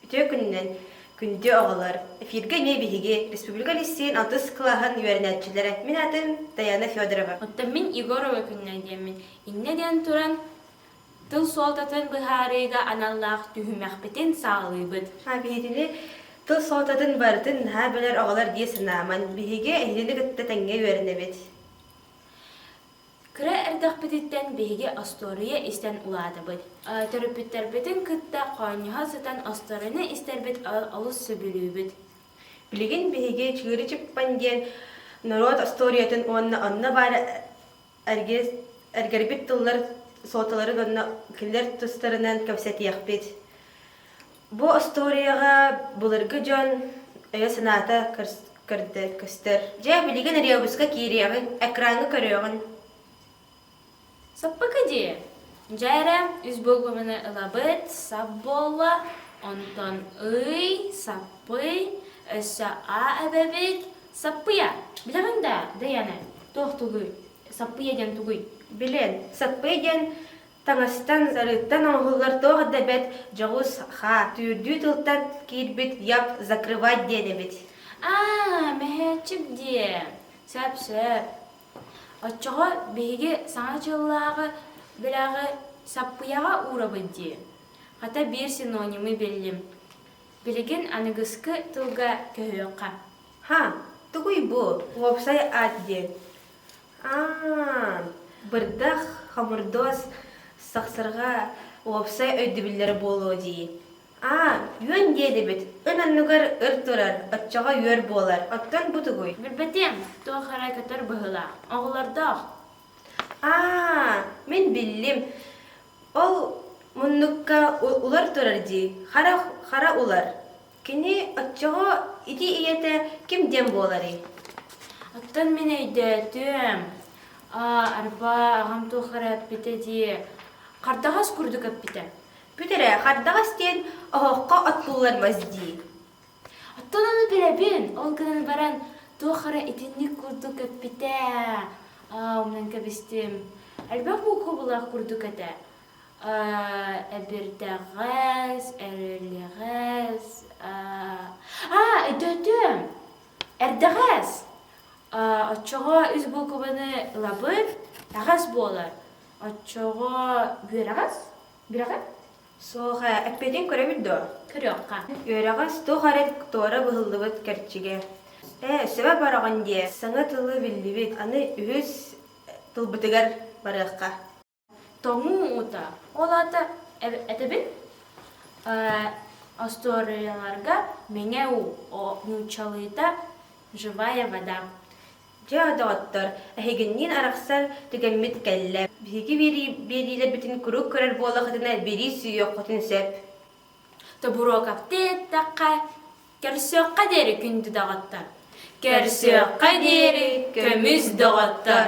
Үтүө күнүнэн күндү оҕолор! Эфиргэ эмиэ биһиги республика лиссиин отыз кылааһын үөрэнээччилэрэ мин атым Даяна Федорова. Оттон мин Егорова күннэр диэммин. Иннэ диэн туран тыл суолтатын быһаарыыга аналлаах түһүмэхпитин саҕалыыбыт. А биһигини тыл суолтатын барытын наһаа билэр оҕолор дии санааман биһиги эһигини кытта тэҥҥэ үөрэнэбит. Кыра эрдэхпититтэн биһиги остуоруйа истэн улаатабыт. Төрөппүттэрбитин кытта хоонньоһо сытан остуоруйаны истэрбит олус сөбүлүүбүт. Билигин биһиги Чыыры Чыппан диэн норуот остуоруйатын уонна онно баар эргис, эргэрбит тыллар суоталарын онно кинилэр тустарынан кэпсэтиэхпит. Бу остуоруйаҕа былыргы дьон өйө-санаата көстөр. Дьэ, билигин ребуска киириэҕиҥ, экраҥҥа көрүөҕүн. Саппака дии. Дьээрэ, үс буолбабыны ылабыт, сап буолла, онтон ый, саппый, өссө а эбэбит, саппыйа. Билэҕин да, Дэйээнэ, туох тугуй? Саппыйа диэн тугуй? Билэн, саппыйа диэн Таҥастан, сарыыттан оҥоһуллар туох да бэрт дьоҕус, хаа, түүрдүү тылтан киирбит Як закрывать диэн эбит. Аа, мөһөөччүк диэ. Сөп-сөп. Оччоҕо биһиги саҥа дьыллааҕы бэлэҕи саппыйаҕа уурабыт дии. Хата биир синонимы биллим. Билигин аныгыскы тылга көһүөххэ. Һа, тугуй бу, уопсай аат диэн? Бырдах, хомурдуос, сахсырҕа, уопсай өйдөбүллэрэ буолуо дии. үөн диэдибит, ын анныгар ыр турар, оччоҕо үөр буолар. Оттон бу тугуй? Билбэтим, туох эрэ көтөр быһыылаах. Оҕолордоох. мин биллим. Ол муннукка улар турар дии, хара, хара улар. Кини оччоҕо ити ийэтэ ким диэн буоларый? Оттон мин өйдөөтүм, арба аҕам туох эрэ эппитэ дии, хардаҕас курдук эппитэ. Бүт эрэ, хардаҕас диэн оһоххо от буллар мас дии. Оттон ону билэбин, ол гынан баран туох эрэ итинник курдук эппитэ. Аа, умнан кэбистим. Элбэх буукубулаах курдук этэ. эбирдэҕэс эрэлэҕэс өтөтүөм эрдэҕэс оччоҕо үс буукубаны ылабын эҕэс буолар оччоҕо бүөрэҕэс бүрэҕэс суох эппитин көрөбүт дуо көрүөххэ үөрэҕэс туох эрэ туора быһыллыбыт кэрчигэ ээ сөбө бороҕон диэ саҥа тылы биллибит аны үһүс тылбытыгар барыахха тоҥуу уута ол аата этэбин остуоруйаларга мэҥэ уу нууччалыыта живая вода дьэ доҕоттор эһигинниин арахсар түгэммит кэллэ биһиги биэриилэрбитин куруук көрөр буоллахытына биэрии сүүйүөххүтүн сөп тобуруокавты эттэххэ көрсүөххэ диэри күндү доҕоттор көрсүөххэ диэри көмүс доҕоттор